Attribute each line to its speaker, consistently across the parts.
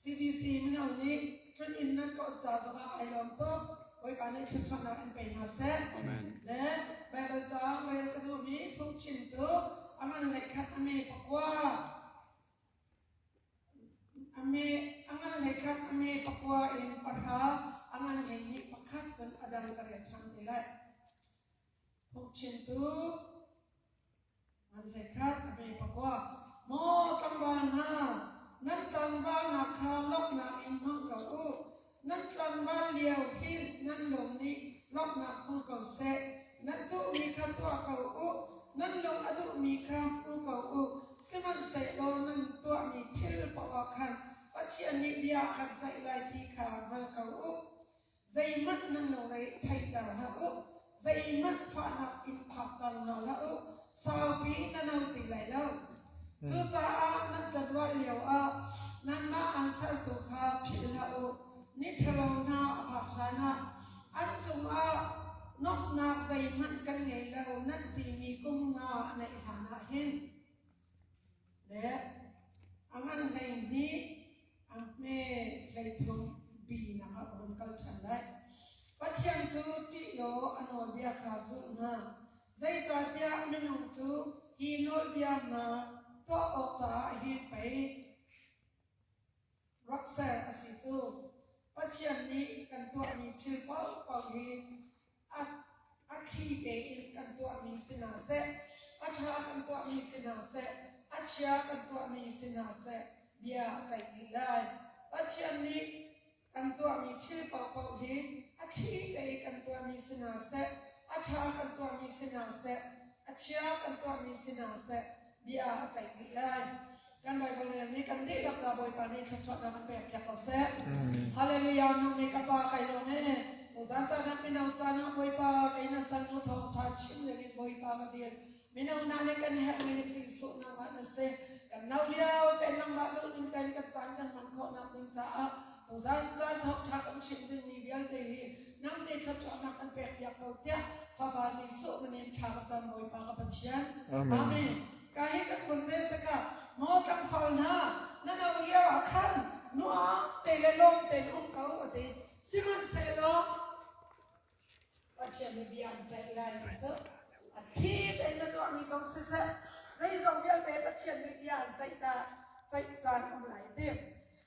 Speaker 1: CDC mino nih tlun inn nan tlawh ca zongah ai lawm tuk. Bawipa nih thluachuahnak in pe hna seh. Amen. Le Baibal ca rel ka duhmi phungchim tu a ngan le khat a me pakua. A me a ngan le khat a me pakua in pahra a ngan le nih pakhat cun a dang ka rel ṭhan te lai. Hnukchintu nganhlekhat a hme pakua, Maw tlangval hna, nan tlangvalnak kha lawmhnak in hmang ko u. Nan tlangval lio hin nan lung nih lawmhnak hmu ko seh. Nan duhmi kha tuah ko u. Nan lung a duhmi kha hmu ko u. Sihmanhsehlaw nan tuahmi thil paoh ah khan Pathian nih bia a kan ceih lai ti kha hngal ko u. Zeihmanh nan lo lei theihter hlah u, zeihmanh fahnak in phakter hna hlah u, saupi na no ti lai lo. Cucaah nan ṭanuah lioah nanmah an sertu kha philh hlah u. Miṭhalo hna a phak hlanah an cungah nuamhnak zeihmanh kan ngei lo nan timi kum nga a naih hlanah hin. le a ngan hlei nih a hme hleithum binak ah a vun kal ṭhan lai. Pathian cu ṭih law a nawlbia kha zulh hna, zeicahtiah minung cu hi nawlbia hna tuah awk caah hin pei rak ser a si cu. Pathian nih kan tuahmi thil paohpaoh hi a thli tein kan tuahmi si hna seh, a ṭha kan tuahmi si hna seh, a chia kan tuahmi si hna seh, bia a ceih dih lai. Pathian nih kan tuahmi thil paohpaoh hi a thli tein kan tuahmi si hna seh, a ṭha kan tuahmi si hna seh, a chia kan tuahmi si hna seh, bia a ceih dih lai. Kan Baibal rian nih kan dihlak ca Bawipa nih thluachuahnak a pek piak ko seh. Hallelujah nu mi ka pa kai lawng e. Tuzan ca nak mino ca na Bawipa kai na san nu thawng tha chim ding in Bawipa ka dil. Mino hna nih kan herh mi Jesuh nang ah na se. Kan no lio te nang ba duh ning ten kan caan kan hman khawh nak ding caah tuzan ca thawng tha kan chim ding mi vialte hi Hnam nih thluachuahnak kan pekpiak ko tiah Fapa Jesuh min in thla ka cam Bawipa ka Pathian. Amen. Ka hi kan vun rel tikah Maw tlangval hna, na no lio ah khan nuam te le lawm tein um ko a ti. Sihmanhsehlaw Pathian nih bia an ceih lai ni cu a thli tein na tuahmi zong siseh zeizong vialte Pathian nih bia an ceih dah ceih caan um lai ti.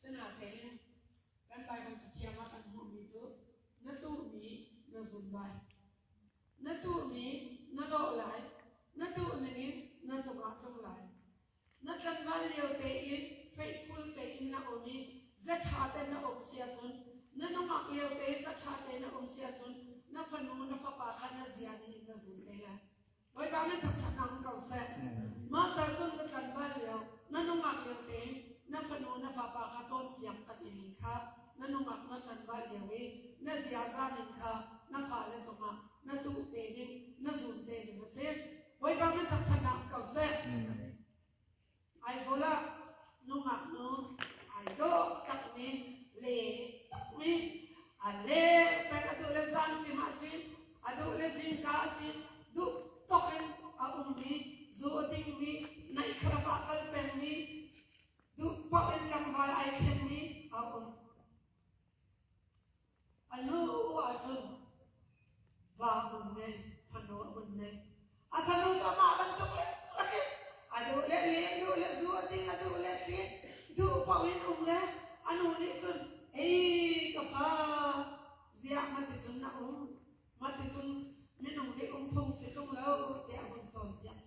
Speaker 1: Sinain kan Baibal cathiang ah kan hmuhmi cu na tuhmi na zum lai, na tuhmi na dawh lai, na tuh ningin na cungah tlung lai. Na tlangval lio tein faithful tein na um i zaṭha te na um si ahcun, na nungak lio te zaṭha te na um si ahcun, na fanu na fapa kha na zia ningin na zum te lai. Bawipa min thangṭhatnak ko seh. Mah ca cun ka tlanh bal lio, na nungak vialte na fanu na vapa kha cawnpiak ka timi kha na nungak na tlanh bal lio i na ziaza ning kha na fale cungah na tuh te ding, na zum te ding a si. Bawipa min thangṭhatnak ko seh. Aizawl ah nungaknu ai dawh takmi le mi a leng peng a duh le zanṭim a ṭin, a duh le zingka a ṭin, duhtawk in a ummi, zu a dingmi, naihkharap ah kal pengmi, duh paoh in tlangval ai khenmi a um. A lu ahcun va a um naih, fanu a um naih. A fanu cu amah bantuk lengmang in a duh le len, duh le zu a ding, a duh le ṭin, duh paoh in um le a nu nih cun "Ei ka fa, ziah maticun na um? Maticun minung hi um phung si ṭung lo," tiah a vun cawnpiak.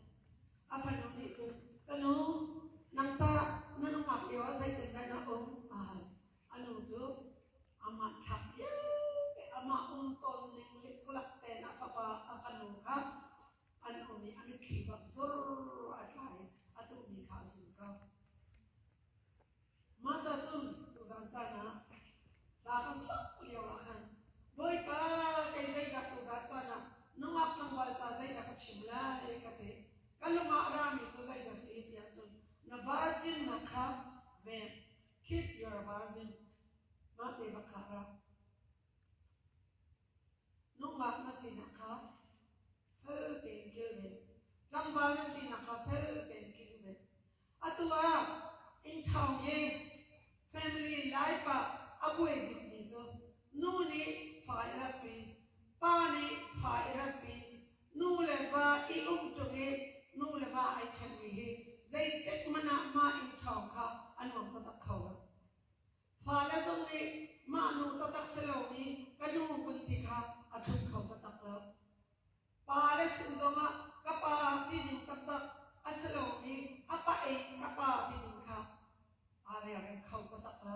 Speaker 1: A fanu nih cun, "Ka nu, nang tah na nungak lio ah zeitindah na um?" a hal. A nu cu amah thlah vialte amah um tawn ning likkulak tein a fapa a fanu kha an um i a mitthli bak zur a tla i a tuhmi kha a zulka. Mata cun tuzan caan ah hla kan sak lio ah khan Bawipa kei zeidah tuzan caan ah nungak tlangval ca zeidah ka chim lai ka ti. Ka lungah rami cu zeidah si tiah cun na varjinnak kha ven Keep your virgin. Mate va khah ra. Nungak na sinak kha fel tein kilven. Tlangval na sinak kha fel tein kilven. Atu ah inn thawng i family life ah a buai bikmi cu nu nih fa i ratpi, pa nih fa i ratpi, Nu le va i uk ṭung i nu le va ai ṭhenmi hi zeitik hmanh ah mah inn ṭhawng kha a nuam taktak kho lo. Fale zong nih mah nu taktak si lomi ka nu hmun ti kha a tlun kho taktak lo. Pa le si zong ah ka pa tining taktak a si lomi a pa ei ka pa tining kha aa relrem kho taktak lo.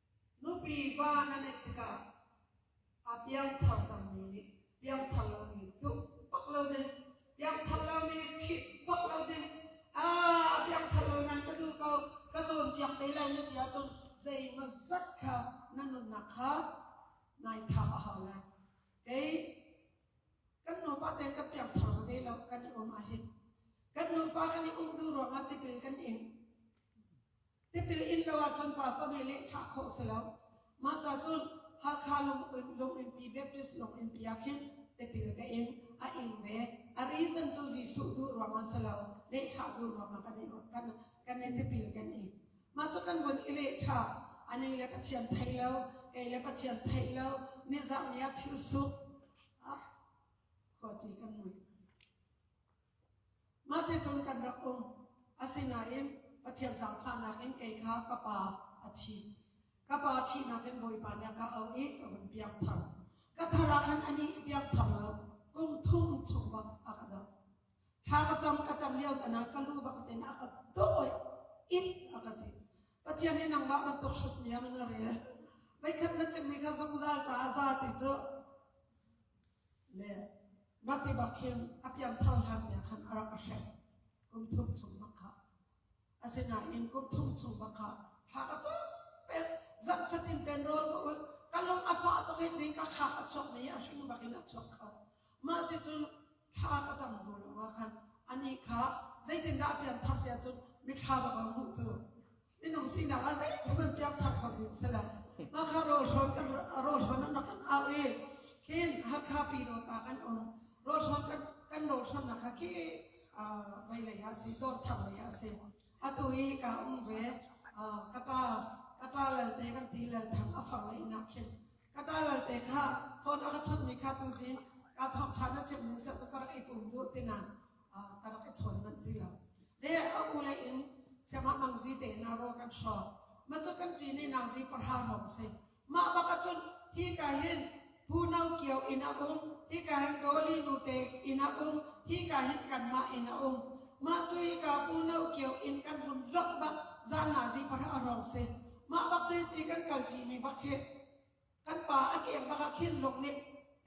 Speaker 1: Nupi va na nenh tikah a piangthar cangmi nih piangthar lomi duh bak lo ding, piangthar lomi khit bak lo ding, aa piangthar lo nan ka duh ko, ka cawnpiak te lai na ti ahcun zeimaw zat kha na nunnak kha nai thap a hau lai. Kei kan nupa tein kan piangthar va ve lo, kan i um ahhin. Kan nupa kan i um duh ruangah tipil kan ing. Tipil in lo ahcun pastor nih lehthah khawh si lo. Mah ca cun Hakha Lunginnpi Baptist Lunginnpi ah khin tipil ka in a ing ve. A reason cu Jesuh duh ruangah si lo. Lehthah duh ruangah kan i kan kan i tipil kan ing. Mah cu kan vun i lehthah. A ni le Pathian thei lo, kei le Pathian thei lo. Nizan ni ah thil suk. Ah, khawci kan mui. Ngakṭi cu kan rak um, asinain Pathian hlangfahnak in kei kha ka pa a thih. Ka pa thihnak in Bawipa nih a ka auh i ka vun piangthar. Ka thar ah khan a nih piangthar lo, kum thum chung bak a ka dam. Thla ka cam, ka cam lio danah ka lu bak tein a ka dawih, it a ka ti. Pathian nih nangmah bantuk hrutmiang in a rel. Voikhat na chimmi kha zungzal caah za ti cu Na tiva khing a piangthar hlannia khan a rak a hrem kum thum chung bak kha. Asinain kum thum chung bak kha thla ka cu pek zan fatin ten rawl ka ul ka lung a fah tuk i ding ka kha a chuak mi a hring bakin a chuak kho. Mah ti cu thla ka cam bu lo ah khan ani kha zeitindah a pianthar tia cun mi thla bak a hmuh cu Minung sinak ah zeithum in piak thar kho ding si lo. Maka rawlhrawn kan rawlhrawn an kan au i hin Hakha Pino pa kan um rawlhrawn kan kan rawlhrawn nak kha khi vai lei ah si dawr thar lei ah si atu i ka um ve kata kata lalte kan ti lal thang a fang lei nak hin kata lalte kha phone a ka chut mi kha tu zin ka thong than na chim nu sa su ka rai pum du tinan ka rak i chawn manh ti lo le a u le in siangah mang zi te na ro kan hro ma cu kan ti ni na zi parha rom se ma baka chun hi ka hin pu no kio ina um hi ka hin doli nu te ina um hi ka hin kan ma ina um ma cu hi ka pu no kio in kan hun lok bak zan na zi parha rom se ma bak chi ti kan kal ti ni bak he kan pa a keng bak ah khinlung nih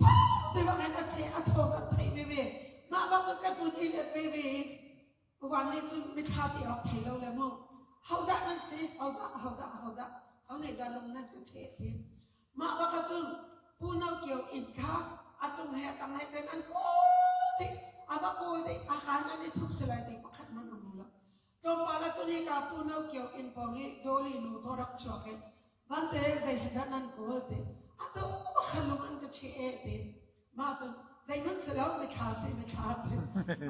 Speaker 1: phawt ti bak in a ce a thaw kan thei veve mah bak cu ka hnun i let veve i van nih cun mithla ti awk thei lo le mu hodah nan si hodah hodah hodah ho nih dah lung nan ka che ti mah bak cu pu no kio in kha a cung he tang he ten an kawl ti a ba kawl ti a kan an i thup silai ti pakhat man a mu lo tlawmpal a cun hi ka pu no kio in pong hi doli nu to rak chuak in Vante zeidah nan kawl te? A to pakhalum an ka cheh te. Ma cun zeihmanh si lo mithla si mithla te.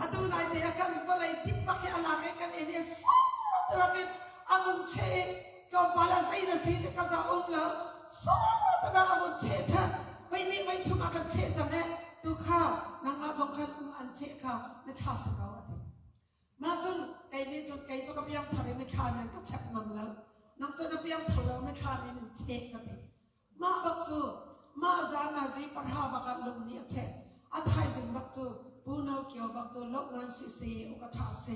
Speaker 1: Atu lai te a kan vawlei tippak hi alak i kan in i so tabakin amun cheh i tlawmpal a zei na si te ka za um lo so tabak amun cheh tha vei nih vei thum a kan cheh cang e tu kha nangmah zong khan um an cheh kha mithla si ko a ti Mah cun kei nih cun kei cu ka piangthar i mithlam in ka chek ngam lo. Nang cu na piangthar lo mithlam in in chek ka ti. Mah bak cu mah zan ah zi parha bak ah lung nih a cheh. A thaizing bak cu Pu No Kio bak cu lo ngan si se u ka ṭha si.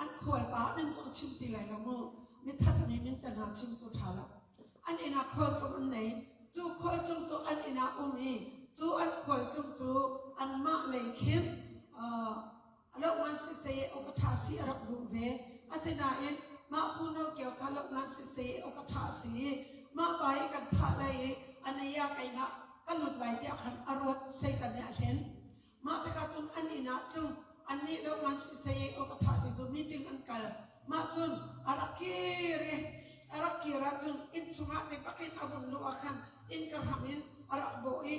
Speaker 1: An khualpa min cu ka chim ti lai lo mu. Mithatmi min te hna chim cu ṭha lo. An inn ah khualtlung an nei. Cu khualtlung cu an inn ah um i cu an khualtlung cu anmah lei khin uh, Lohngan sisei uk a ṭha si a rak duh ve. Asinain mah phu nokiao kha lohngan sisei uk a ṭha a si i mah pa i kan thah lai i a neiah keinah ka lut lai tiah khan a ruat. Satan nih a hlen. Mah tikah cun an inn ah tlung annih lohngan sisei uk a ṭha ti cu meeting an kal. Mah cun a rak kir i a rak kir ahcun inn chungah ti bakin a vun luh ah khan inn ka hram in a rak bawh i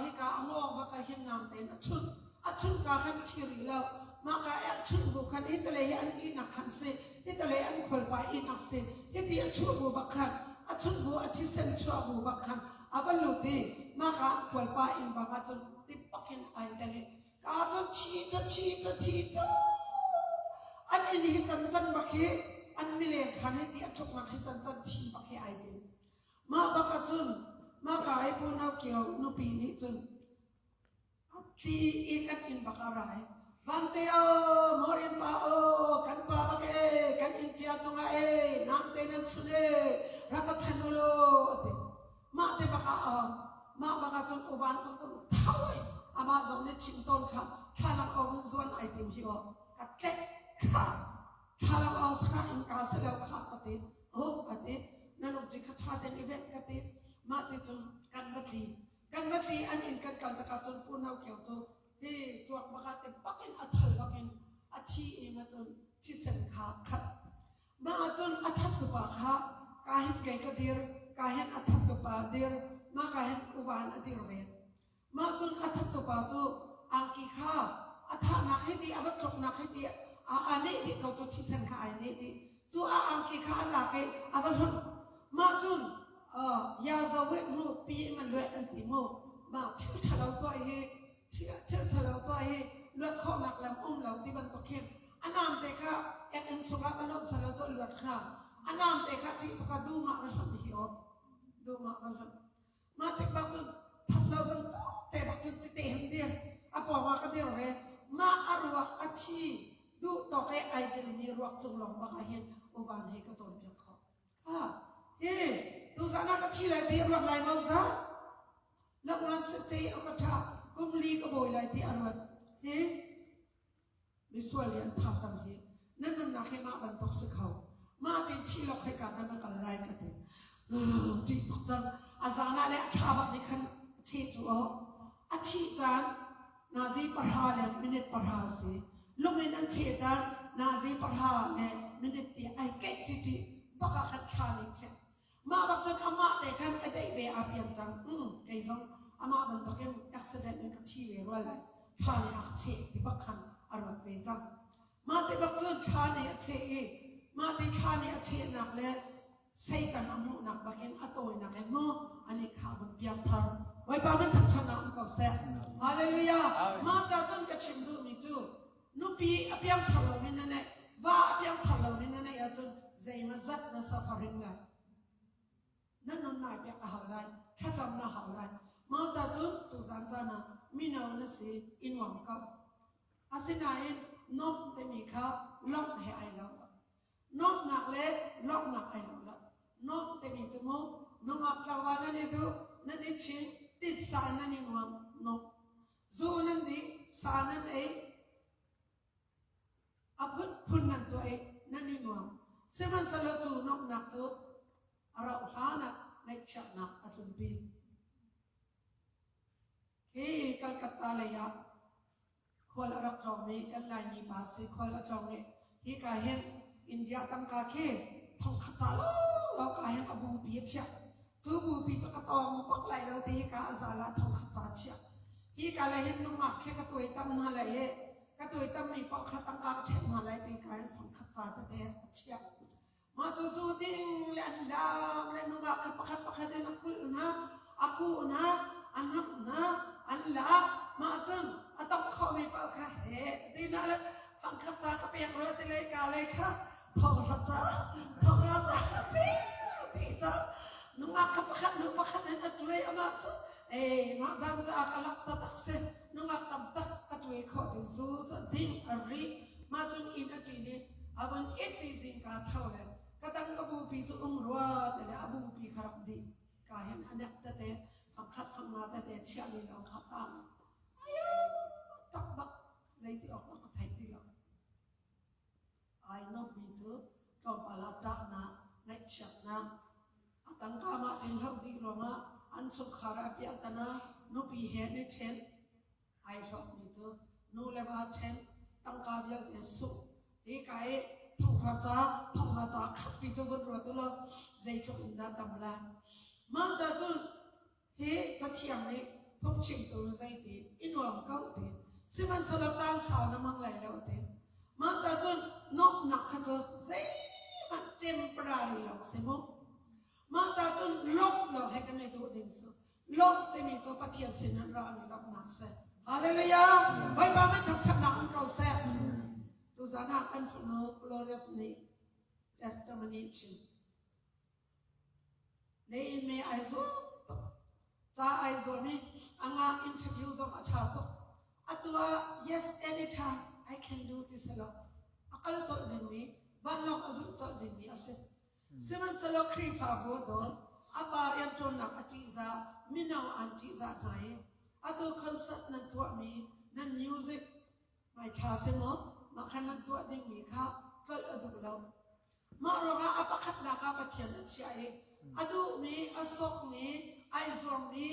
Speaker 1: Hika a ngawng bak ah hin naam tein a chunh. A chuhka khan a thi rih lo. Mahka i a chuh bu khan itale hi an ihnak khan si. Itale an khualpa ihnak si. Hiti a chuh bu bak khan, a chuh bu, a thisen chuah bu bak khan a va lut i mahka khualpa inn bak ah cun tipak in ai tel i ka cu thi cu thi cu thi cu an inn hi can can bak hi an mileng khan hi ti a thuknak hi can can thi bak hi ai din. Mah bakah cun mahka i punau kio nupi nih cun a tli i kan inn bak a rai. Vanteo, Morin pa aw, kan pa bak ee, kan inn cia cungah ee, namte nan chun ee, rak va chan u law, a ti. Mah te bak ah um, mah bakah cun uvan cu kun thau ai, amah zong nih chim tawn kha thlalang aung in zuan ai tim hi aw. Ka tlek kha thlalang aung sakah in ka si lo kha, a ti. oh ka ti na lung cu kha ṭha ten i venh ka ti mah ti cun kan va tli kan va tli an in kan kal takah cun punau kio cu hi tuak bakah te bakin a thal bakin a thi im cun thisen kha khat mah cun a that tupa kha ka hin kei ka dir ka hin a that tupa dir mah ka hin uvan a dir ve Mah cun a thattupa cu angki kha a thahnak hiti, a va tluknak hiti, a neh dih ko cu thisen kha ai neh dih. Cu a angki kha a lak i a va hlonh. Mah cun yazo heh mu, pi in a lueh an ti mu. Mah thil ṭhalo tuah hi, thil ṭhalo tuah hi luat khawhnak lam um lo ti bantuk khin a namte kha eng-eng chungah va lawmh selaw cu a luat hnga. A namte kha ṭih tuk ah dum ah va hlonh hi aw. Dum ah va hlonh. Mah tik bak cun thatlo bantuk te bak cun tete hin dir a pawng ah ka dir ve mah a ruak a thi duh tawk e ai telmi ruak cung long bak ah hin uvan hei ka cawnpiak kho ha hi tu zan ah ka thi lai ti ruat lai maw za lokran se se a ka tha kumli ka bawi lai ti a ruat hi Misual nih an tha cang hi. Nan nunnak hi mah bantuk si kho. Mah tin thilok he ka kan kal lai ka ti. Ṭih tuk cang. A zan ah le a thlabak nih khan a thi cu o. A thi caan nazi pahra le minute pahra si. Lung in an thi caan nazi pahra le minute ti ai keih ṭiṭi baka kan thla nih cheh. Mah bak cun amah te khan a daih ve aa fiang cang. Mm, kei zong amah bantukin accident in ka thi ve rua lai. Ṭha nih a ka cheh ti bak khan a ruat ve cang. Mah ti bak cun ṭha nih a cheh i mah ti ṭha nih a chehnak le Satan a hmuhnak bakin a tawinak in mu an i khah vun piang thar. Bawipa min thangṭhat ah um ko seh. Hallelujah. Mah ca cun ka chim duhmi cu Nupi a piangthar loin na neih, va a piangthar loin na neih ahcun zeima zat na sak a ring lai. Na nun nai piak a hau lai, thlacam na hau lai. Mah ca cun tuzan caan ah mino na si i nuam ko. Asinain nuamh timi kha lawmh he ai lo. Nuamhnak le lawmhnak ai lo lo. Nuamh timi cu mu nungak tlawva nan i duh, nan i chin, titsa nan i nuam, nuamh. Zaw nan nih sa nan ei, a phunphun nan tuai, nan i nuam. Sihmanhsehlaw cu nuamhnak cu a rauh hlanah ngaihchiatnak a tlunpi. Hi Calcutta lei ah khual a rak tlawngmi kan Laimi pa si khual a tlawng i Hika hin India tangka khi thongkhat ta lawlaw ka hin ka bupi a chiah. Cu bupi cu ka tawng bak lai lo ti hika a zala thongkhat ta chiah. Hika le hin nungak khi ka tuai tam hna lai le ka tuai tam mi poh kha tangka ka ṭhen hna lai ti ka hin thongkhat ta tete a chiah. Mah cu zu ding le an laam le an um ah khan pakhat pakhat in a kulh hna, a kuh hna, a hnamh hna, an lak. Mah cun a tong khomi paoh kha heh tinak le fangkhat ca ka pek rua ti le ka lei kha thonghra ca thonghra ca ka pek ti ca nungak kha pakhat hnu pakhat in a tuai. Amah cu ei mah zan caah ka lak tatak si. nungak tam tak ka tuai khawh cu zu cu ding a ri mah cun inn a ṭin i a vun it ti zing kaa tho le ka tang ka bupi cu ung rua te le a bupi kha rak dih ka hen a nek tete fangkhat fangma tete chiahmi lo kha tang tak bak zei ti awk mah ka thei ti lo ai lomi cu tlawmpal ah ṭahnak, ngaihchiatnak, a tangkaam ah an hloh dih ruangah an chungkhar ah piahtana, nupi he an i ṭhen. Ai hlawkmi cu nu le va ṭhen, tangka vialte sungh, hika i thonghra ca, thonghra ca khampi cu vun ruat u law zeitluk in dah tam la. Mah ca cu Hi cathiang nih phungchimtu zeiti i nuam ko te, sihmanhsehlaw caan sau na mang lai lo te. Mah cacun nuamhnak kha cu zeihmanh temporary lo si mu. Mah cacun lawmh lo he kan i duh ning su. Lawmh timi cu Pathian sinah ra mi lawmhnak si. Hallelujah! Bawipa mit thangthatnak in ko seh. Tuzan ah kan fanu Glorious nih testimony chim. Na ime ai zuam tuk. Ca ai zuam i a ngak interview zong a ṭha tuk. Atu ah yes anytime I can do ti si lo. A kal colh dingmi, vanlawng a zulh colh dingmi a si. Sihmanhsehlaw Khrihfabu dawt a pa rianṭuannak a ṭihzah, mino an ṭihzah hna i atu concert nan tuahmi, nan music Mai ṭha si maw? Mah khan nan tuah dingmi kha tlolh a duh lo. Mah ruangah a pakhatnak ah Pathian a chiah i a duhmi, a sawkmi, ai zuammi,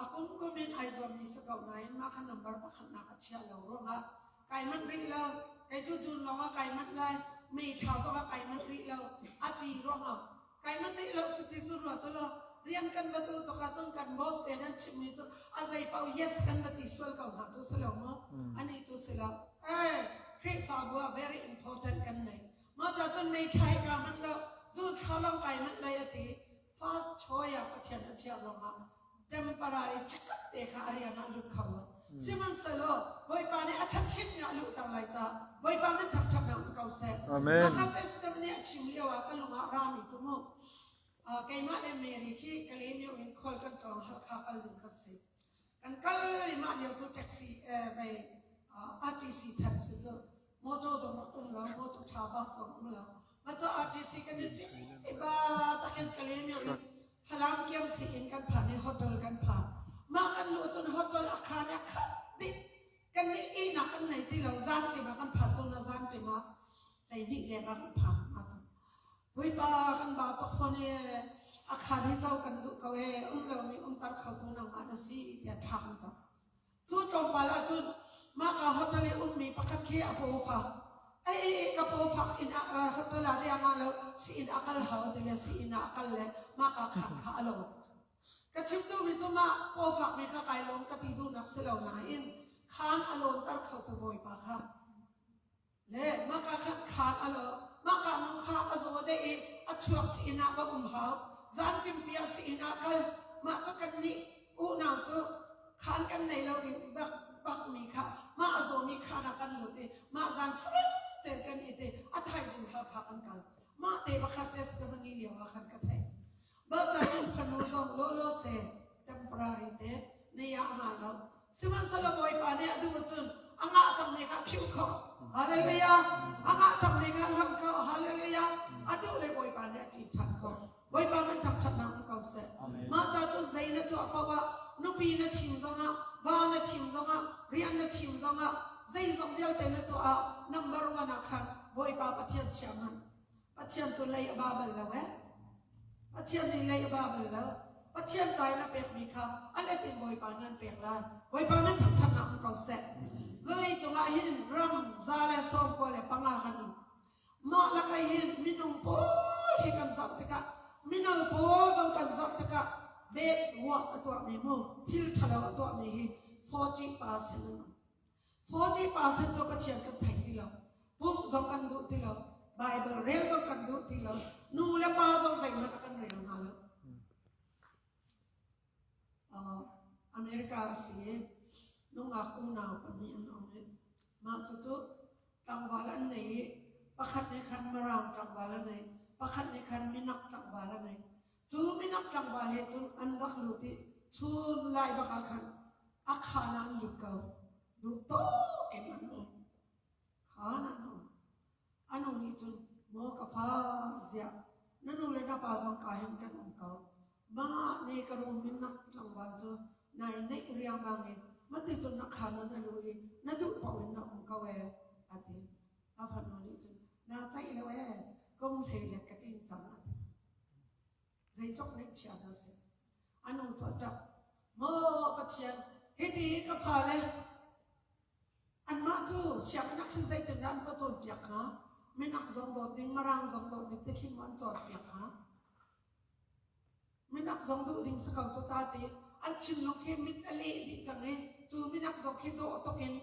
Speaker 1: a kumkum in ai zuammi si ko nain mah kha number pakhatnak a chiah lo ruangah kai manh rih lo. Kei cu June lawngah kai manh lai, May thla zongah kai manh rih lo, a ti ruangah kai ma tei lo cuti cu rua tu lo rian kan va tu tuk ahcun kan boss te nan chim mi cu a zei pau yes kan va ti sual ko hna cu si lo mu ani cu si lo eh Khrihfabu ah very important kan nei mo ta cun mei thai ka hman lo cu thlalong kai hman lai ati fast choya pathian a chia long ah temporary chakap te kha a rian ah lut kho sihmanhsehlaw Bawipa nih a ṭhatchitmi a luhter lai caah Bawipa min thangṭhat he um ko seh Amen. a kha testimony
Speaker 2: nih a
Speaker 1: chim lio ah ka lung ah rami cu mu uh, keimah le Mary khi Kalemio in khual kan tlawng Halkha kal ding ka si kan kal limah lio cu taxi eh, bei uh, RTC taxi cu Motor zong a um lo, motor tha bus zong a um lo. Maca RTC kan i cik i ba takin kale mi in Falam kiam si in kan phan i hotel kan phan. Mah kan lu cun hotel a khan a khat dit kan ni i nak kan nei ti lo zan ti ma kan phan cun na zan ti ma lei ni deng a kan phan ma tu. Puipa kan ba tok phone e a khan hi cho kan du ko e um lo mi um tar kho tu nang ma na si ti a tha kan cho. Cu tlawmpal ah cun mahka hotel i ummi pakhat khi a pawfa. Ei ei ei ka pawfak inn ah ra hotel ah riang ah lo si inn a kal hau ti le si inn ah a kal le mahka khat kha a lo. Ka chim duhmi cu mah pawfakmi kha kai lawm ka ti duhnak si lo nain khan a lawnter khotu Bawipa kha Maka nu kha a zaw deh i a chuak si inn ah va um hau. Zanṭimpi ah si inn ah kal. Mah cu kannih unau cu khaan kan nei lo in bakmi kha mah a zawmi khaan ah kan lut i mah zan sareng tein kan it i a thaizing Halkha kan kal. Mah te pakhat testimony lioah khan ka theih. Mahca Chin fanu zong lawlaw seh temporary te nei ah a nga lo. Sihmanhsehlaw Bawipa nih a duh cun a ngah cangmi kha philh khawh. Hallelujah! A ngah cangmi kha lamh khawh. Hallelujah! A duh le Bawipa nih a ṭih ṭhan khawh. Bawipa min thangṭhatnak hmu ko seh. Mahca cu zei na tuah paoh ah, nupi na thim zongah, va na thim zongah, rian na thim zongah, zeizong vialte na tuah ah, number one ah khan Bawipa Pathian chia hmanh. Pathian cu lei a ba bal lo ee. Pathian nih lei a ba bal lo. Pathian ca in a pekmi kha a let in Bawipa nih an pek lai. Bawipa min thangṭhatnak um ko seh. Vawlei cungah hin ram, za le sawmkua le panga kan um. Mah lakai hin minung pawl hi kan zoh tikah, mino pawl zong kan zoh tikah, bek ruah a tuahmi mu, thil ṭhalo a tuahmi hi 40 percent an um. 40 percent cu Pathian kan thei ti lo. Pumh zong kan duh ti lo. Baibal rel zong kan duh ti lo. Nu le pa zong zeihmanh a kan rel hna lo. Uh, America a si i, nungak unau pahnih an um i, mah cu cu tlangval an nei i, pakhat nih khan Marang tlangval an nei, pakhat nih khan Minang tlangval an nei. Cu minok tlangval he cun an rak lut i chun lai bak ah khan a khaan ah an lut ko. Duhtak in an um. Khaan an um. An um nih cun, maw ka fa, ziah na nu le na pa zong ka hin kan um ko. Mah ne ka rum in nak tlangval cu na i neih riangmang i, mante cun na khaan ah na lu i na duh paoh in na um ko ee, a ti. A fanu nih cun, Na ceih lo ee, kum hleilek ka tling cang a ti. Zeitluk ngaihchia dah si. A nu cu a ṭap. Maw Pathian, hiti i ka fale, anmah cu sianginn ah khin zeitindah an va cawnpiak hnga? Minak zong dawt ding, Mirang zong dawt ding te khi maw an cawnpiak hnga? Minak zong duh ding si ko cu ta ti. An thinlung khi mit a leh dih cang i, cu minak zong khi dawh tuk in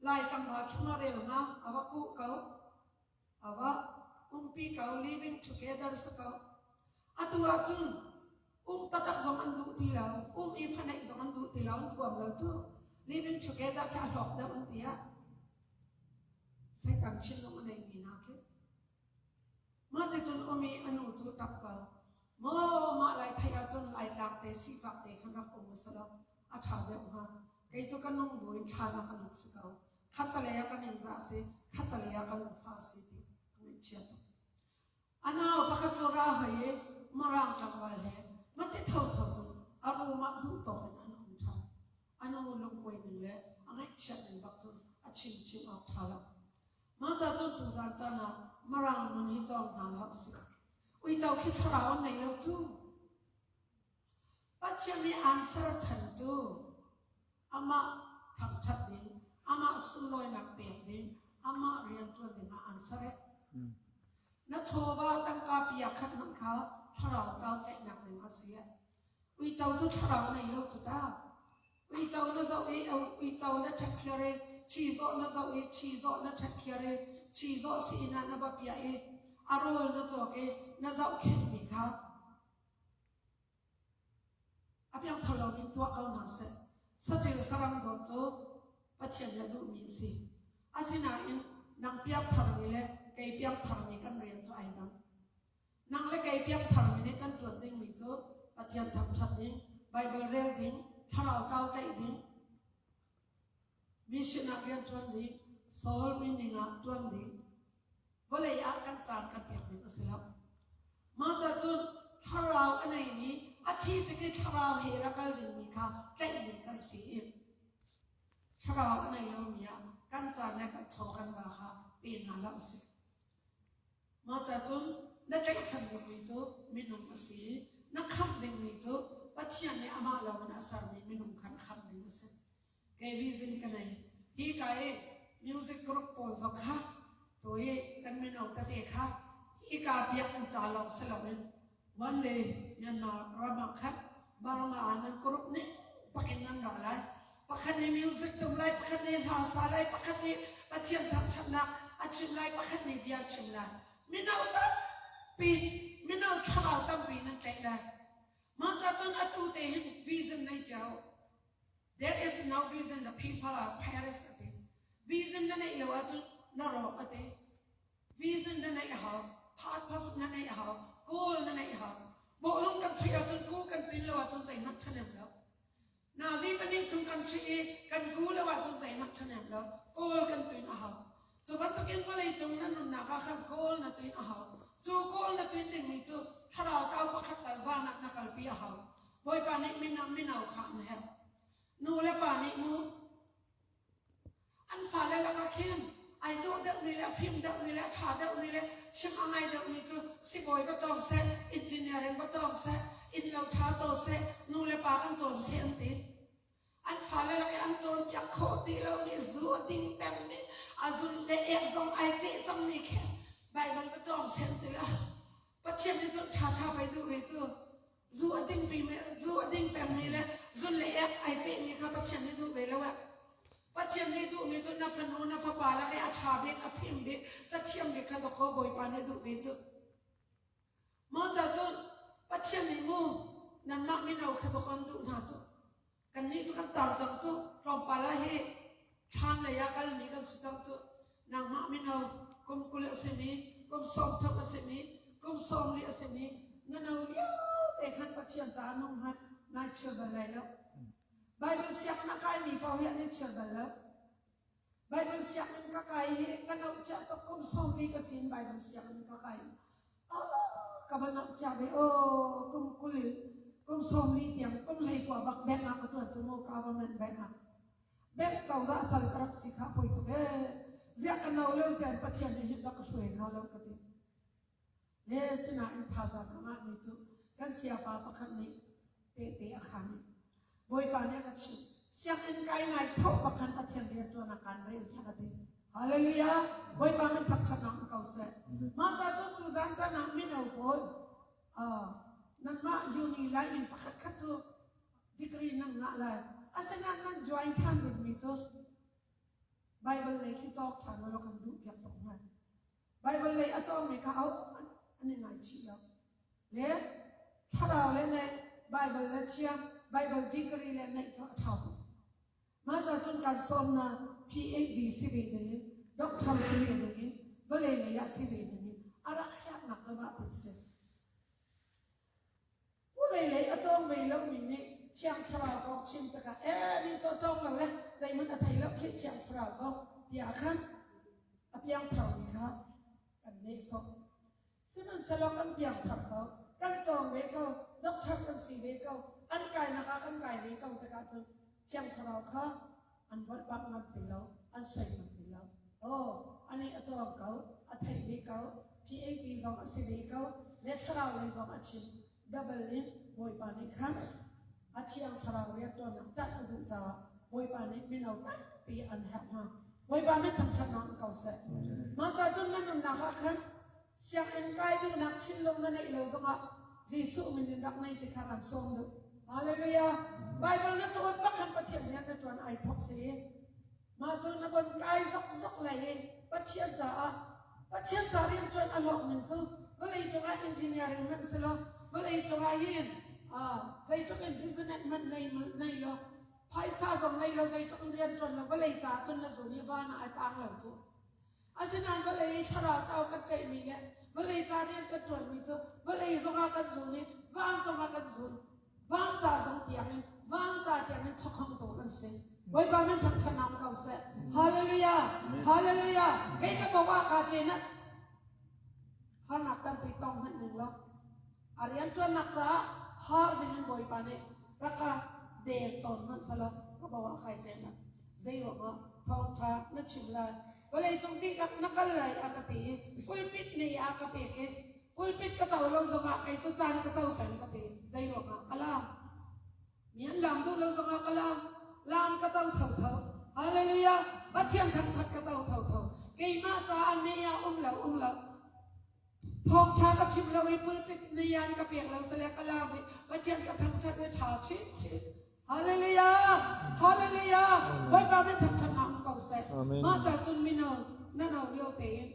Speaker 1: Lai tlangval chungah relnak a va kuh ko. A va umpi ko. Living together si ko. Atu ahcun um tatak zong an duh ti lo. Um i fanaih zong an duh ti lo. Huam lo cu living together khi a hlawk deuh an tiah. Satan thinlung a neimi hna khi. Mah te cun um i a nu cu tap ko. Maw mah lai thai ahcun lai tlak te sifak te khan rak um usalaw. a ṭha deuh hnga. Kei cu ka lungdawi ṭhan ah kan rak si ko. Khatalei ah kan in za si, khatalei ah kan nufa si ti ka ngaihchia tuk. A nau pakhat cu ra hoi i Mirang tlangval he mati thotho cu a room ah duhtawk in an um ṭhan. A nu lungkuai ning le a ngaihchiat ning bak cu a chimchim awk ṭha lo. Mah ca cu tuzaan caan ah Mirang nun hi cawng hna hlah usih. Uico khi thlarau an nei lo cu. Pathian i aan serṭhan cu amah thangṭhat ding, amah sunglawinak pek ding, amah rianṭuan dingah aan serh. Na chawva tangka pia khatnak kha thlarau tlau tlaihnak ding a si. Uico cu thlarau ngei lo cu ta. Uico na zoh i uico na ṭhakkhiar i chizawh na zoh i chizawh na ṭhakkhiar i chizawh sihna na va piah i a rawl na cawk i na zohkhenhmi kha A piangthar lomi tuah ko hna seh. Saṭil saram dawt cu Pathian le duhmi a si. Asinain nang piangtharmi le kei piangtharmi kan rian cu ai dang. Nang le kei piangtharmi nih kan ṭuan dingmi cu Pathian thangṭhat ding, Baibal rel ding, thlarau kau tlaih ding, Mi sinah rianṭuan ding, Saul mi ning ah ṭuan ding, vawlei ah kan caan kan pek ding a si lo. Mah cacun thlarau a neimi, a thi tik i thlarau he rak kal dingmi kha tlaih ding kan si i thlarau a nei lomi ah kan caan le kan chaw kan ba kha pe hna hlah u sih. Mah cacun na tlaihchan dingmi cu minung a si i na khamh dingmi cu Pathian nih amah lawng in a sermi minung khan khamh ding a si. kei vision ka nei hi ka i music group pawl zong kha tu i kan mino tate kha hi ka biak an ca lawng si loin one day nyanna ramah khan bangma anan group nih pakin an ra lai pakhat nih music tum lai pakhat nih hla sa lai pakhat nih pathian thangthatnak a chim lai pakhat nih bia chim lai mino tampi mino thlarau tampi nan tlaih lai mah ka cun atu te hin vision nei cio There is no vision. The people are careless a ti. Vision na neih lo ahcun na rawk a ti. Vision na neih a hau. Purpose na neih a hau. Goal na neih a hau. Bawlung kan chuih ahcun ku kan tin lo ahcun zeihmanh ṭhanem lo. Nazi pahnih chung kan chuih i kan ku lo ahcun zeihmanh ṭhanem lo. Goal kan tin a hau. Cu bantukin vawleicung nan nunnak ah khan kawl na tuin a hau. Cu kawl na tuin dingmi cu thlarau tau pakhat tal van ah na kalpi a hau. Bawipa nih min ah minau kha an herh. Nu le pa nih nu an fale lakah khin ai dawh deuhmi le fim deuhmi le tha deuhmi le chim a ngai deuhmi cu sibawi va cawng seh, engineering va cawng seh, innlo tha caw seh, nu le pa kan cawn seh an ti. An fale rak i an cawnpiak khawh ti lomi zu a ding pengmi a zun le ek zong ai ceh cangmi khi Baibal pacawng sen tila Pathian nih cun ṭhaṭha pei duh hi cu zu a ding pimi zu a ding pengmi le zun le ek ai cehmi kha Pathian nih duh ve lo ee. Pathian nih duhmi cu na fanu na fapa lak i a ṭha bik a fim bik cathiam bik kha dawkaw Bawipa nih a duh ve cu. Mawṭa cu Pathian nih mu, nanmah mino khabak on duh hna cu. Kannih cu kan tar cang cu, tlawmpal ah hi thlam lei ah kalmi kan si cang cu. Nangmah mino kum kul a simi, kum sawm thum a simi, kum sawm li a simi, na no liote khan Pathian caah nung hmanh, nai chiar bal lai lo. Baibal sianginn ah kaimi paoh hi an i chiar bal lo. Baibal sianginn ka kai hi ka nauh cia tuk. Kum sawmli ka sin Baibal sianginn ka kai. Ah, ka va nauh cia ve aw. Kum kul in kum sawmli tiang kum hleikua bak bank ah ka tuan cu maw government bank ah. Bank cozah sal ka rak si kha poi tuk ee. Ziah ka no leo tian Pathian hi hit da ka hruai hna lo ka ti. Ne sinain thazaang a ngahmi cu kan siapa pakhat nih tehte a khaan i Bawipa nih a ka chimh sianginn kai ngai tho pakhat Pathian rianṭuan ah kaan rel tiah a ti. Hallelujah! Bawipa min thap ṭhatnak ko seh. Mah ca cu tu zan caan ah mino pawl uh, nanmah uni lai in pakhatkhat cu degree nan ngah lai. Asinain nan join ṭhan dingmi cu Bible lei khi cawk ṭhan law kan duh piak tuk hna. Baibal lei a cawngmi kha auh an in ngaichih lo. Le thlarau le ngaih, Baibal le thiang, Baibal degree le ngaih cu a ṭha tuk. Mah cacun kan sawmnak PhD si ve dingin, doctor si ve dingin, vawlei lei ah si ve dingin a rak herhnak cu mah ti a si. Vawlei lei a cawng ve lomi nih Thiang Thlarau kong chim tikah ee nih cu cawng lo le zeihmanh a thei lo khi Thiang Thlarau kong tiah kha a piangtharmi kha kan nehsawh. Sihmanhsehlaw kan piangthar ko, kan cawng ve ko, doctor kan si ve ko, an kainak ah kan kai ve ko tikah cun Thiang Thlarau kha an vorh pap ngam ti lo an sei ngam ti lo oh a nih a cawng ko a theih ve ko PAT zong a si ve ko le thlarau lei zong a chim double in bawipa nih khan a thiang thlarau rianṭuannak ṭanh a duh caah bawipa nih mino tampi an herh hna bawipa mit thangṭhatnak ko seh mah ca cun na nunnak ah khan Sianginn kai duhnak thinlung na neih lo zongah Jesuh min in rak ngei ti kha ran sawm duh. Hallelujah! Baibal na cawn bak khan Pathian rian na ṭuan ai thok si. Mah cu na von kai zokzok lai i Pathian caah Pathian ca rianṭuan a hlawk ning cu vawlei cungah engineering hmanh si lo vawlei cungah hin ah zeitluk in business hmanh nei nei lo phaisa zong nei lo zeitluk in rianṭuan lo vawlei caah cun na zun i van ah a tang lo cu. Asinain vawlei i thlarau tau kan tlaihmi le vawlei ca rian kan ṭuanmi cu vawlei zongah kan zun i vaang zongah kan zun. Vaang ca zong tiangin vaang ca tiangin chawkhongtu kan si. Bawipa min thangṭhatnak ko seh. Hallelujah! Hallelujah! Kei ka bo ah kaa cenat. Harnak tampi tong hmanh ning law. A rianṭuannak caah har dingin Bawipa nih raka deu tawn hmanhselaw ka bo ah khai cena zeiruangah thawngṭha na chim lai vawleicung dihlak na kal lai a ka ti i pulpit nei a ka pek i pulpit ka co lo zongah kei cu caan ka co peng ka ti zeiruangah ka laam mi an laam duh lo zongah ka laam laam ka co tho tho hallelujah pathian thangṭhat ka co tho tho keimah caah ne ah um lo um lo Thawngṭha ka chim lo i pulpit nian ka pek lo sale ka laam i Pathian ka thangṭhat i ṭha chinchin. Hallelujah! Hallelujah! Bawipa min thangṭhatnak um ko seh. Amen. Mah ca cun mino na no lio tein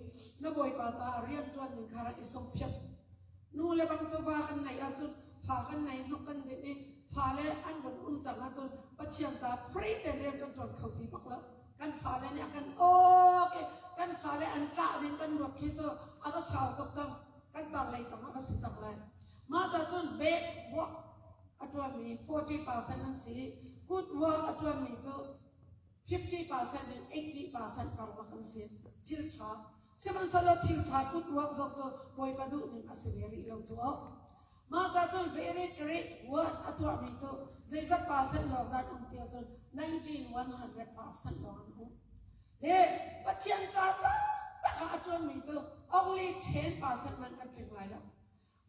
Speaker 1: na Bawipa caah rian ṭuan ding kha rak i sungphiap. Nu le bang chawva kan neih ahcun fa kan nei hnok kan dinh i fa le an vun um cang ahcun Pathian caah free te rian kan ṭuan kho ti bak lo. kan fale nih a kan awk i kan fale an ṭah ding kan ruak khi cu a va sau tuk cang kan tarlei cang a va si cang lai mah ca cun bank work a ṭuanmi 40% an si good work a ṭuanmi cu 50% in 80% karlak an si thil ṭha sihmanhsehlaw thil ṭha good work zong cu bawipa duhning a si ve rih lo cu. Mah ca cun Beret Rih Word a tuahmi cu zeizat percent lawng dah an um ti ahcun 19,100 percent lawng an um. Le Pathian ca taktak ah a ṭuanmi cu only 10 percent nan kan tling lai lo.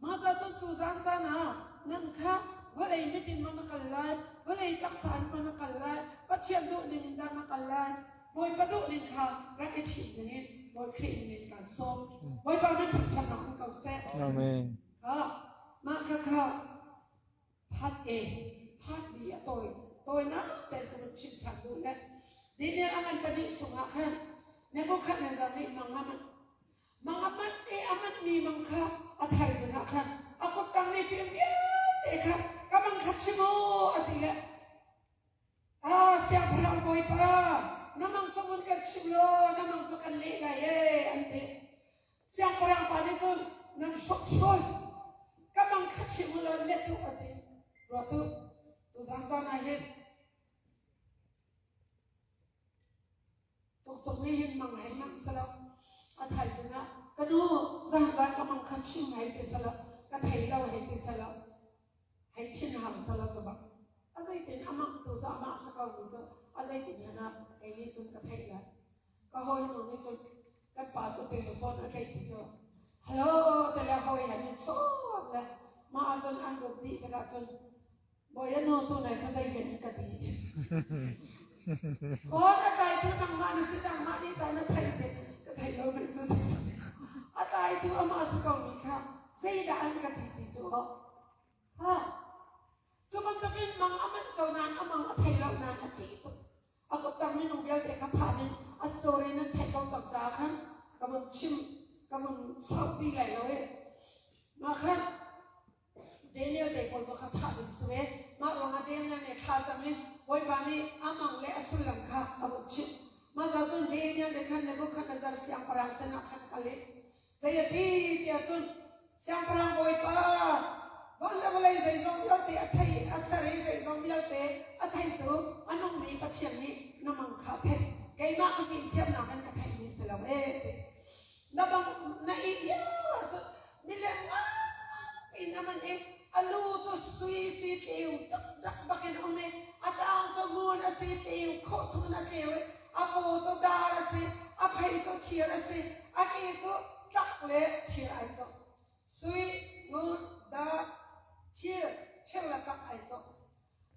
Speaker 1: Mah ca cun tuzaan caan ah nan kha vawlei mit in maw na kal lai, vawlei taksa in maw na kal lai, Pathian duh ning in dah na kal lai, Bawipa duh ning kha rak i thim dingin Bawi Khrih ning
Speaker 3: in kan sawm. Bawipa min thangṭhat nak in ko seh. Amen. Mah kha kha that e that bi a tawi tawinak tel tu chim than duh le dinian a man pahnih chungah khan Nebuchadnezzar nih mang a manh mang a manh e a manh mi mang kha a thaizing ah khan a kuttang mi fim vialte kha ka mang kha chim u a ti le Ah, Siangpahrang Bawipa, na mang cu vun kan chim law na mang cu kan leh lai ee, an ti. Siangpahrang pa nih cun, nan hrukhrul, ka mang kha chim u law let u, a ti. Ruat u, tuzang caan ah hin Cawkcawk nih hin mang he manh selaw a thaizing ah ka nu zaanzaan ka mang kha chim hei ti selaw ka thei lo hei ti selaw hei thin hang selaw cu bak a zeitin a mangtu cu amah a si ko mi cu a zeitin hen ah kei nih cun ka theih lai. Ka hawinu nih cun kan pa cu telephone a
Speaker 1: tleih ti cu hello ti le hawi he an i chawm le mah ahcun an lut dih tikah cun Boy ano tu nai kha zei men ka ti te. O ka trai tu nangmah ni si nangmah ni ta na thai te ka thai lo men chu ti chu. A trai tu ama su kong mi kha sei da an ka ti ti chu o. Ha. Chu kam tak in mang aman ko nan amang a thai lo nan a ti tu. A ko tang min u bial te kha tha nin a story nan thai ko tak cha khan ka mun chim ka mun sau ti lai lo e. Ma khan Daniel te kawl cu kha thah ding si ve. Mah ruangah Daniel nih thlah cang i Bawipa nih a mang le a sullam kha a hmuh chih. Mah hna cun Daniel nih khan Nebuchadnezzar siangpahrang sinah khan kal i zei a ti tiah cun Siangpahrang Bawipa, van le vawlei zeizong vialte a thei i a ser i zeizong vialte a theitu a nungmi Pathian nih na mang kha a theih. Keimah ka fimthiamnak in ka theihmi si lo ee, a ti. Na bang na ih lio cu mileng ah in a man in a lu cu sui si tleu rak bakin um i a tang cu ngun a si tleu khawh chun a tleu i a paw cu dar a si a phei cu thir a si a ke cu tlak le thir ai cawk sui ngun dar thir thir le tlak ai cawk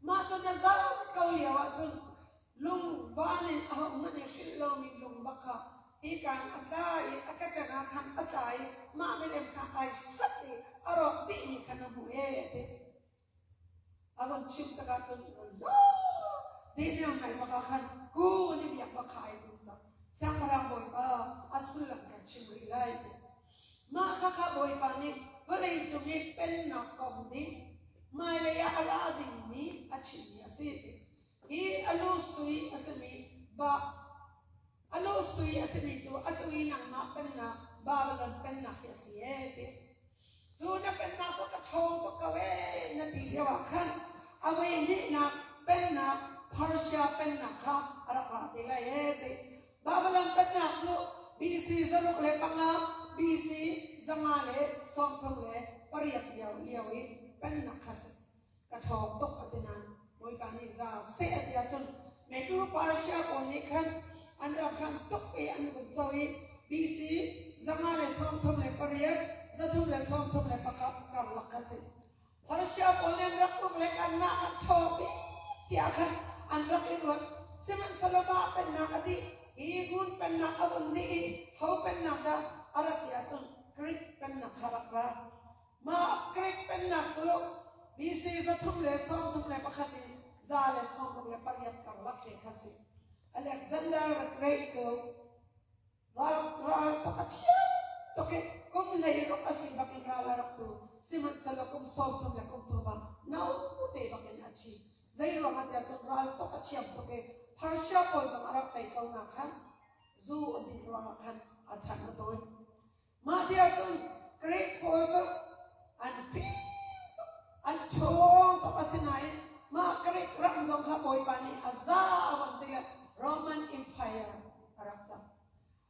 Speaker 1: Mah cu na zaang ko lio ahcun lungvan in ahohmanh nih hrilh lomi lungva kha hikaan a tla i a keṭangah khan a tla i mah milem kha ai sat i a rawk dihmi kha na hmuh ee a ti. A vun chim tikah cun no diliam ngai bak ah khan kun i biak va khai a tum cang. Siangpahrang Bawipa a sullam kan chim rih lai ti. Mah Hakha Bawipa nih vawleicung i Pennak komh ding, hmailei ah a ra dingmi a chimmi a si ti. Hi a lu sui a simi Ba- a lu sui a simi cu atu i nangmah pennak Babilon pennak hi a si ee ti. Cu na pennak cu ka ṭhawng tuk ko ee na ti lioah khan a veilihnak pennak Persia pennak kha a rak ra te lai ee ti. Babalam pennak cu BC zaruk le panga, BC zanga le sawmthum le pariat lio lio i pennak kha ka ṭhawng tuk a ti nain Bawipa nih za seh a ti ahcun neitu Persia pawl nih khan an rak hran tuk i an vun co i BC zanga le sawmthum le pariat, zathum le sawmthum le pakhat karlak kha a si. Khualsia pawl nih an rak uk le kan nak an ṭhaw pi tiah khan an rak i ruat. Sihmanhsehlaw mah pennak a dih hi Gun pennak a vun dih i ho pennak dah a rat ti ahcun Greek pennak kha rak ra. Mah Greek pennak cu BC za thum le sawm thum le pakhat in za le sawm ruk le pariat karlak te kha a si. Alexander the Great cu Ral rak a thiang tuk i kum hlei kum a si bakin ral a rak tu. Sihmanhsehlaw kum sawmthum le kum thum ah no te bakin a thi. Zei ruangah tiah cun ral tuk a thiam tuk i Persia pawl zong a rak tei ko nakhan zu a dinh ruangah khan a chan a tawi. Mah ti ahcun Greek pawl cu an fing tuk, an ṭhawng tuk asinain mah Greek ram zong kha Bawipa nih a zau an ti le Roman Empire a rak cang.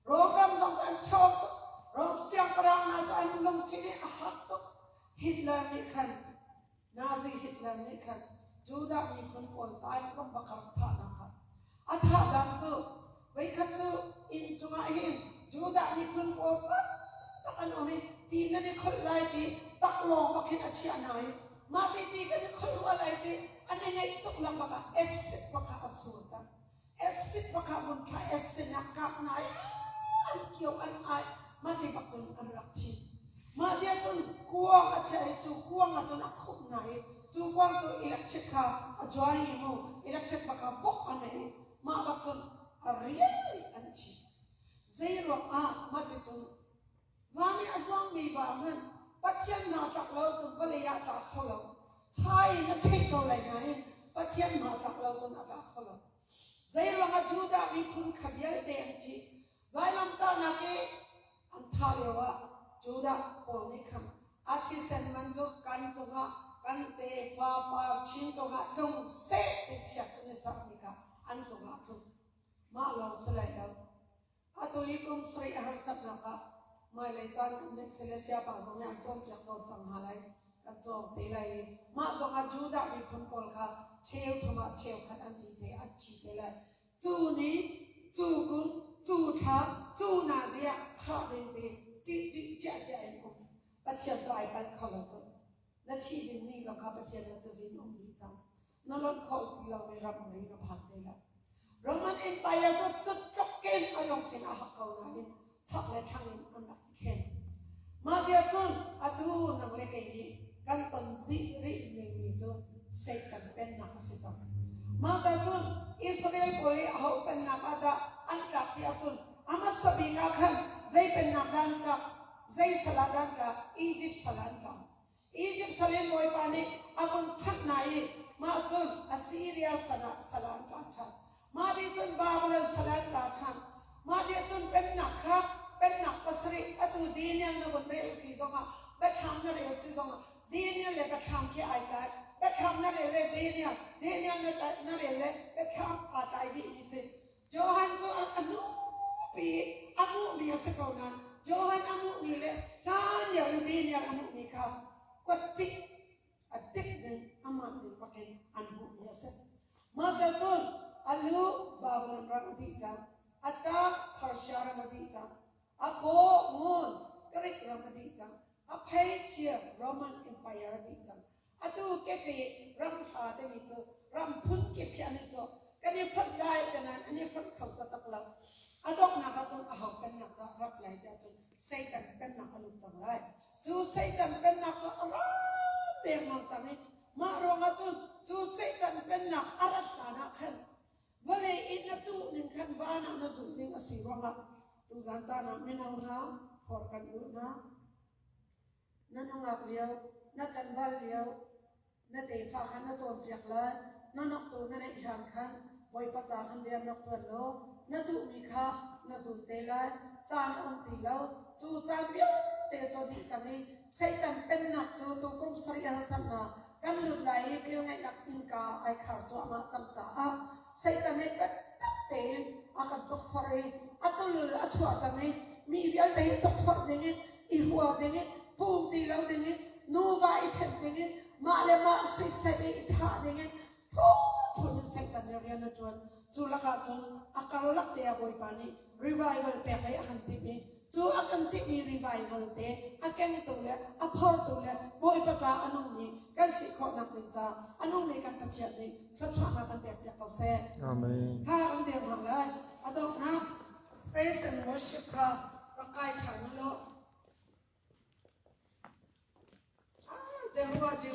Speaker 1: Rom ram zong cu an ṭhawng tuk, Rom siangpahrang hna cu an lungthin i a hak tuk. Hitler nih khan Nazi Hitler nih khan Judah miphun pawl taikawm pakhat thahnak ah a thahnak cu voikhat cu inn chungah hin Judah miphun pawl taktak an um i ti nan i kholh lai ti taklawng bakin a chiah hna i mah ti ti kan i kholh rua lai ti an i ngaih tuk lang bakah acid pakhat a sur tak. Acid pakhat vun thlah acid ah kap nai an kio an ai ma ti bak cun an rak thi ma dia cun kuang a che i cu kuang a cun a khup nai cu kuang cu electric kha a join ni mu electric baka bok a nei ma bak cun a rial an thi zei ruang ah ma ti cun Hna nih a zuangmi va hmanh Pathian naa tlak lo cun vawlei ah tla kho lo. Cha in a cheh ko lai nain Pathian naa tlak lo cun a tla kho lo. Zeiruang ah Judah miphun kha vialte an ṭih, vailamtah nak i an thah lio ah Judah pawl nih khan a thisen man cu kan cungah kan tefa par chin cungah tlung seh ti chiat an i sermi kha an cungah a tlung. Mah lawng si lai lo. A toi kum sarih a harsatnak ah hmailei caan um ning seh le siapa zong nih an cawnpiak tawn cang hna lai. Kan cawng te lai i mah zong ah Judah miphun pawl kha cheuthum ah cheukhat an thi te an thi te lai. Cu ni, cu kum, cu thla, cu nazi ah thah ding ti ṭih ṭih ciahciah in um. Pathian cu ai panh kho lo cu. Na thih ding ni zong kha Pathian na cazin um dih cang. na lonh kho ti lomi ram ngei na phan te lo. Roman Empire cu cutcok ken an ong chin a hak ko nain chak le thlang in an rak i khen. Mah viacun atu nang le kei nih kan ton dih rih ning ni cu Satan pennak a si tuk. Mah ta cun Israel pawl i aho pennak ah dah an tlak ti ahcun Amasa bik ah khan zei pennak dah an tlak, zei sal ah dah an tlak, Egypt sal ah an tlak. Izipt salin Bawipa nih a vun chanh hna i mah cun Assiria sal ah sal ah an tla ṭhan. Mah nih cun Babylon sal ah an tla ṭhan. Mah nih cun pennak kha pennak pasarih atu Daniel na vun rel a si zongah biathlam na rel a si zongah Daniel le biathlam he ai tlai. Biathlam na rel le Daniel, Daniel na, tlai- na rel le biathlam aa tlai dih mi si. Johan cu a hnupi a hmuhmi a si ko nain Johan a hmuhmi le hlan lio i diniar a hmuhmi kha kuat ṭih a dik ning amah ning bakin an hmuhmi a si. Mah cu cun a lu Babylon ram a dih cang, a ṭang Persia ram a dih cang, a fawh ngun Greek ram a dih cang, a pheichia Roman Empire a dih cang, Atu keti ram hla timi cu ram phun kip hi an i cawk. Kan i fonh lai te nain an i fonh kho taktak lo. A donghnak ahcun a ho pennak dah rak lai te ahcun Satan pennak a lut cang lai. Cu Satan pennak cu a ra dengmang cang i mah ruangah cun cu Satan pennak a rat hlan ah khan vawlei in na tuh ning khan van ah na zulh ding a si ruangah tuzan caan ah mino hna, for kan duh hna, Na nungak lio, na tlanval lio, na tefa kha na cawnpiak lai. Na noktu na neih hlan khan Bawipa ca kan liamnak tuan law na duhmi kha na zul te lai. Caan a um ti lo. Cu caan vialte cu dih cang i Satan pennak cu tukum sarih harsannak kan lut lai i velngeihnak innka ai khar cuahmah cang caah Satan nih biatak tein a kan tukforh i a tul a chuahter i mi vialte hi tukforh ding in i hual ding in pum ti lo ding in nuva i ṭhen ding in mah le mah suitset i thah ding in phunphun in Satan nih rian a ṭuan. Cu lakah cun a karlak te ah Bawipa nih revival pek i a kan timh i Cu a kan timi revival te, a kengtu le a phortu le Bawipa ca a nungmi kan si khawhnak ding ca a nungmi kan Pathian nih thluachuahnak kan pekpiak ko seh. Amen. Kha kan der hna lai. A donghnak praise and worship kha rak kai ṭhan u law. Ah, Jehovah Jireh.